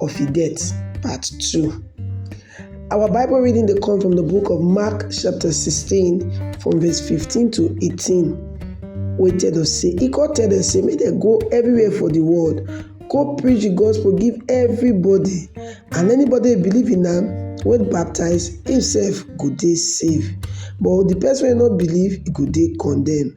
of e death, part 2. Our Bible reading dey come from the book of Mark chapter 16 from verse 15 to 18 wey tell us say e come tell dem say make dem go everywhere for the world go preach the gospel give everybody and anybody wey believe in am wey baptize himself go dey safe but the person wey no believe e go dey condemned.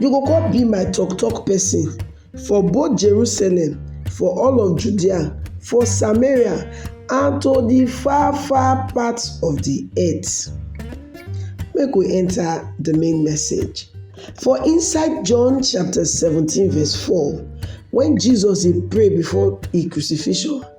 You go come be my tok tok pesin for both Jerusalem, for all of Judea, for Samaria, and to di far far parts of di earth. Make we enta di main message. For inside John chapter seventeen verse four, wen Jesus dey pray before im crucifixion,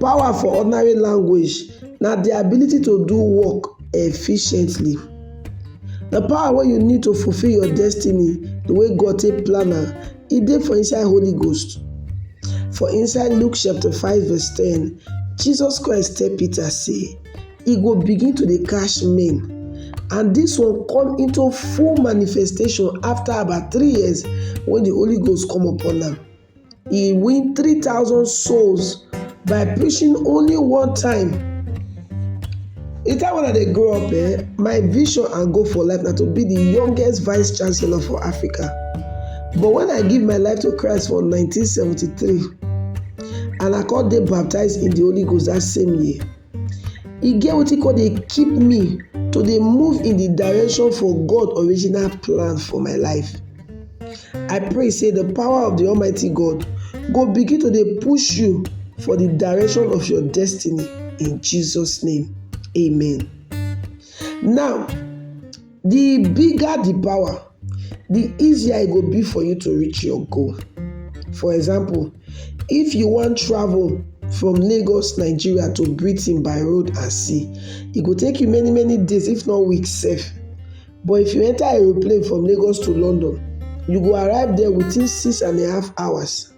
Power for ordinary language na the ability to do work efficiently. The power wey you need to fulfill your destiny the way God take plan am, e dey for inside Holy Ghost. For inside Luke chapter 5 verse 10, Jesus Christ tell Peter say, e go begin to dey catch men and this one come into full manifestation after about three years when the Holy Ghost come upon am. E win 3,000 souls by preaching only one time. The time when I dey grow up, eh, my vision and goal for life na to be the youngest vice chancellor for Africa. But when I give my life to Christ for 1973 and I come dey baptized in the Holy Ghost that same year, e get wetin come dey keep me to dey move in the direction for God original plan for my life. I pray say the power of the Almighty God go begin to dey push you for the direction of your destiny in Jesus name. Amen. Now, The bigger the power, the easier e go be for you to reach your goal. For example, if you wan travel from Lagos, Nigeria to Britain by road and sea, e go take you many many days if not weeks sef. But if you enter aeroplane from Lagos to London, you go arrive there within six and a half hours.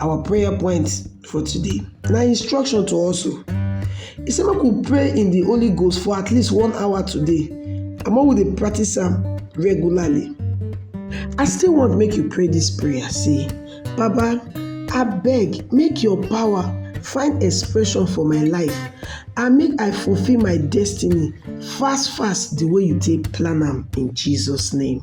Our prayer point for today na instruction to us o. E say make we pray in the Holy Ghost for at least one hour today and make we dey practice am regularly. I still want make you pray this prayer say, Baba, abeg make your power find expression for my life and make I fulfill my destiny fast fast the way you take plan am in Jesus name.